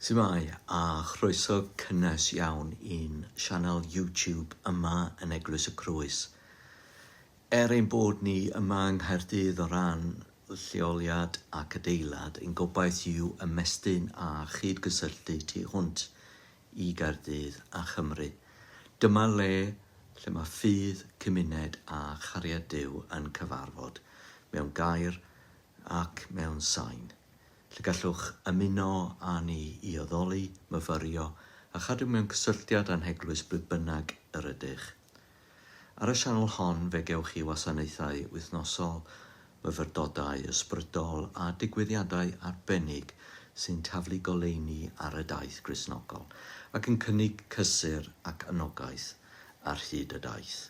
Shwmae a chroeso cynnes iawn i'n sianel YouTube yma yn Eglwys y Crwys. Er ein bod ni yma yng Nghaerdydd o ran lleoliad ac adeilad, ein gobaith yw ymestyn a chyd-gysylltu tu hwnt i Gaerdydd a Chymru. Dyma le lle mae ffydd, cymuned a chariad Duw yn cyfarfod, mewn gair ac mewn sain. lle gallwch ymuno â ni i addoli, myfyrio a chadw mewn cysylltiad â'n heglwys ble bynnag yr ydych. Ar y sianel hon fe gewch chi wasanaethau wythnosol, myfyrdodau ysbrydol a digwyddiadau arbennig sy'n taflu goleuni ar y daith Gristnogol ac yn cynnig cysur ac anogaeth ar hyd y daith.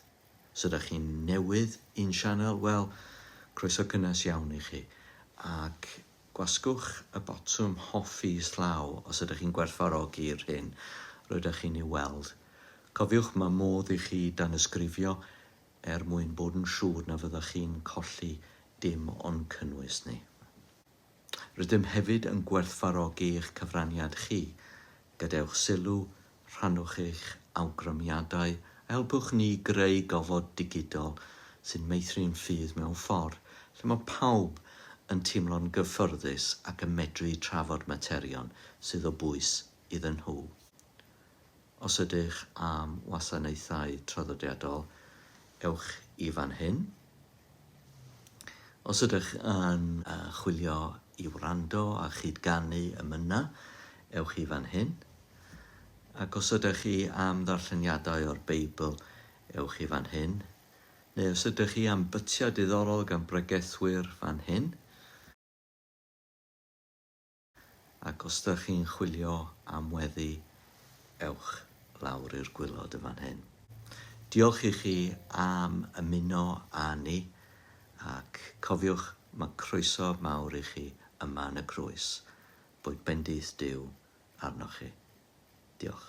Os ydych chi'n newydd i'n sianel, wel, croeso cynnes iawn i chi, ac gwasgwch y botwm hoffi islaw os ydych chi'n gwerthfawrogi'r hyn rydych chi'n ei weld. Cofiwch, mae modd i chi danysgrifio er mwyn bod yn siŵr na fyddwch chi'n colli dim o'n cynnwys ni. Rydym hefyd yn gwerthfawrogi eich cyfraniad chi. Gadewch sylw, rhannwch eich awgrymiadau a helpwch ni greu gofod digidol sy'n meithrin ffydd mewn ffordd lle mae pawb yn teimlo'n gyfforddus ac yn medru trafod materion sydd o bwys iddyn nhw. Os ydych am wasanaethau traddodiadol, ewch i fan hyn. Os ydych yn chwilio i wrando a chyd-ganu emyna, ewch i fan hyn. Ac os ydych chi am ddarlleniadau o'r Beibl, ewch i fan hyn. Neu os ydych chi am bytiau diddorol gan bregethwyr, fan hyn. Ac os dych chi'n chwilio am weddi, ewch lawr i'r gwilod yn fan hyn. Diolch i chi am ymuno â ni, ac cofiwch, mae croeso mawr i chi yma yn y Groes, boed bendith Duw arnoch chi. Diolch.